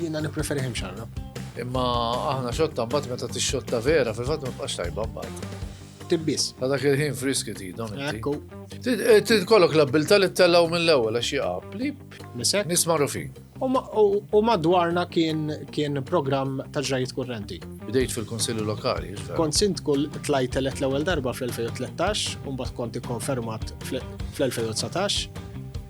Jiena nippreferi ħim xarra. Imma aħna xotta mbagħad meta tixxotta vera fil-fatt ma tibqax tajba mbagħad. Tibbis. Ta' dak il-ħin friski tidhom. Ekku. Eh, Tidkollok l-abbilta li tellaw mill-ewwel għax jaqab. Plip. Nisek. Nisma' rufin. U madwarna kien kien programm ta' ġrajiet kurrenti. Bdejt fil-Kunsilli Lokali, hiex vera? Kont Sindku tlajt elett l-ewwel darba fl-2013 u mbagħad kont ikkonfermat fl-2019.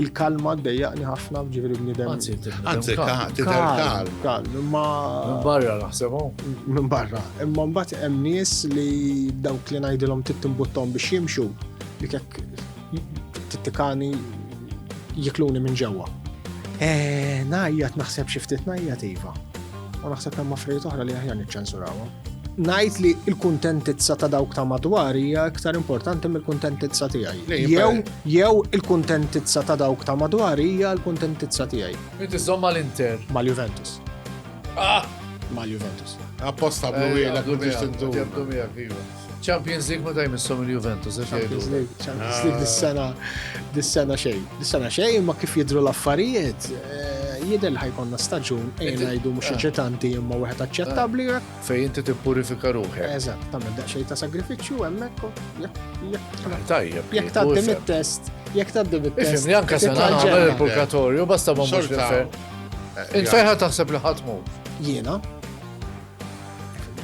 Il-kalma ddejjaqni ħafna ġifieri bniedem. Anzi, Anzi, ka- ka- tidher Kalm, kalm. kalm, imma Minn barra naħsebhom. minn barra. Imma mbagħad hemm nies li dawk li ngħidilhom trid timbuttom biex jimxu, dik hekk Tittikani jikluni minn ġewwa. Eh, najjat naħseb xi ftit najjat iva. U naħseb hemm affarijiet oħra li aħjar niċċensurawha. Najt li l-kuntentizza ta' dawk ta' madwar hija iktar importanti mill-kuntentizza tiegħi. Jew jew il-kuntentizza ta' dawk ta' madwar hija l-kuntentizza tiegħi. Inti żomm mal-Inter. Mal-Juventus. Ah! Mal-Juventus. Apposta blu eh, biex tintu. Champions League meta jmissom il-Juventus, għax jgħidu. Champions League dis-sena, dis-sena xejn. Dis-sena xejn, ma kif jidru l-affarijiet, eh, jidel ħajkonna staġun, ejn għajdu mux ċetanti imma wieħed aċċettabli. Eh. Fej inti tippurifika ruħek. Eżatt, tagħmel daqsxejn ta' sagrifiċċju hemmhekk. Ah, tajjeb. Jekk tgħaddi mit-test, jekk tgħaddi mit-test. Ifimni anke se nagħmel il-purgatorju, basta ma mhux Inferħa taħseb li ħatmu. Jiena,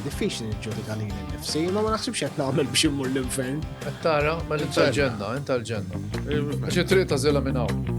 diffiċli niġġudika li nifsi, ma ma naħsibx qed nagħmel biex immur l-infern. Qed tara, ma mela inta l-ġenna, inta l-ġenna. Għax it-triq ta' żela minn hawn.